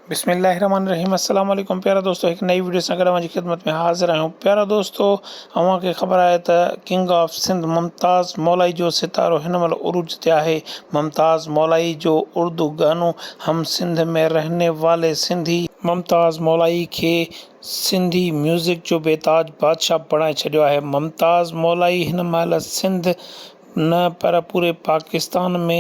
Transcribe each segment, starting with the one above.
بسم الله الرحمن الرحيم السلام عليڪم پيارا دوستو هڪ نئي وڊيو سان گڏ اوهان جي خدمت ۾ حاضر آهيون پيارا دوستو اوهان کي خبر آهي ته ڪنگ آف سنڌ ممتاز مولائي جو ستارو هن مهل عروج تي آهي ممتاز مولائي جو اردو گانو هم سنڌ مي رهني والي سنڌي ممتاز مولائي کي سنڌي ميوزڪ جو بي تاج بادشاهه بڻائي ڇڏيو آهي ممتاز مولائي هن مهل سنڌ نه پر پوري پاڪستان ۾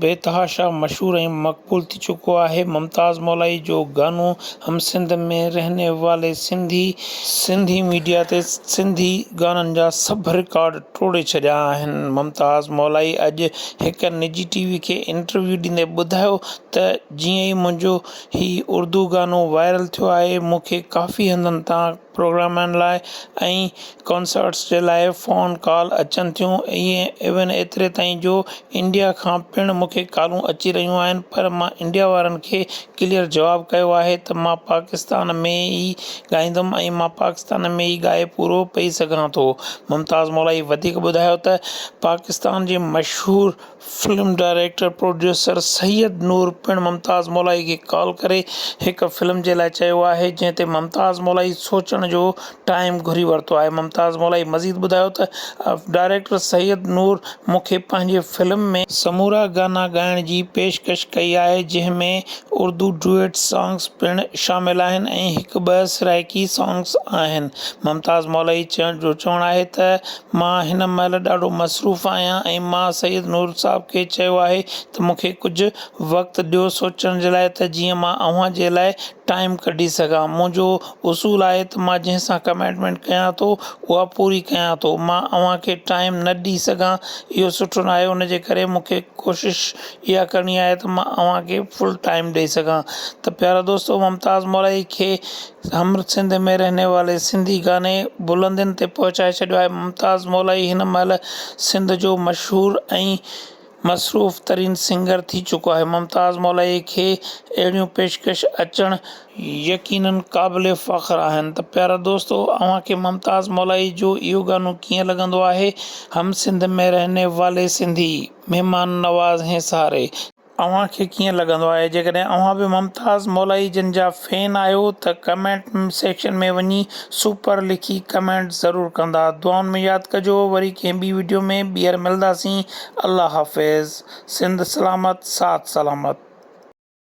بيتحاشا مشهور ۽ مقبول ٿي چڪو آهي. ممتاز مولائي جو گانو هم سنڌ مين رهني والي سنڌي، سنڌي ميڊيا تي سنڌي گانن جا سڀ رڪارڊ ٽوڙي ڇڏيا آهن. ممتاز مولائي اڄ هڪ نجي ٽي وي کي انٽرويو ڏيندي ٻڌايو ته جيئن ئي منهنجو هي اردو گانو وائرل ٿيو آهي مون کي ڪافي هنڌن تان پروگرامن لاء ۽ ڪانسرٽس جي لاء فون ڪال اچن ٿيون ايون ايتري تائين جو انڊيا کان پڻ مون کي ڪالون اچي رهيون آهن پر مان انڊيا وارن کي ڪليئر جواب ڪيو آهي ته مان پاڪستان ۾ ئي ڳائيندم ۽ مان پاڪستان ۾ ئي ڳائي پورو پئي سگهان ٿو ممتاز مولائي وڌيڪ ٻڌايو ته پاڪستان جي مشهور film director producer Syed Noor پڻ ممتاز مولائي کي ڪال ڪري هڪ فلم جي لاء چيو آهي جنهن تي ممتاز مولائي سوچڻ جو ٽائيم گهري ورتو آهي ممتاز مولائي مزيد ٻڌايو ته ڊائريڪٽر سيد نور مون کي پنهنجي فلم ۾ سمورا گانا ڳائڻ جي پيشڪش ڪئي آهي جنهن ۾ اردو ڊوئيٽ سانگس پڻ شامل آهن ۽ هڪ ٻه سرائيڪي سانگس آهن ممتاز مولائي جو چوڻ آهي ته مان هن مهل ڏاڍو مصروف آهيان ۽ مان سيد نور صاحب کي چيو آهي ته مون کي ڪجهه وقت ڏيو سوچڻ جي لاء ته جيئن مان اوهان جي لاء ٽائيم ڪڍي سگهان. منهنجو اصول آهي ته مان جنهن سان ڪميٽمينٽ ڪيان ٿو اها پوري ڪيان ٿو. مان اوهان کي ٽائيم نه ڏي سگهان اهو سٺو ناهي ان جي ڪري مون کي ڪوشش اها ڪرڻي آهي ته مان اوهان کي فل ٽائيم ڏئي سگهان ته پيارا دوستو ممتاز مورائي کي سامر سنڌ ۾ رهني والي سنڌي گاني بلندين تي پهچائي ڇڏيو آهي ممتاز مولائي هن مهل سنڌ جو مشهور ۽ مصروف ترين سنگر ٿي چڪو آهي ممتاز مولائي کي اهڙيون پيشڪش اچڻ يقينن قابل فخر آهن ته پيارا دوستو اوهان کي ممتاز مولائي جو اهو گانو ڪيئن لڳندو آهي هم سنڌ مين رهني والي سنڌي مهمان نواز هين ساري. اوهان کي ڪيئن لڳندو آهي جيڪڏهن اوهان به ممتاز مولائي جن جا فين آهيو ته ڪمينٽ سيڪشن ۾ وڃي سپر لکي ڪمينٽ ضرور ڪندا دعائن ۾ ياد ڪجو وري ڪنهن ٻي وڊيو ۾ ٻيهر ملداسين الله حافظ سنڌ سلامت ساٿ سلامت.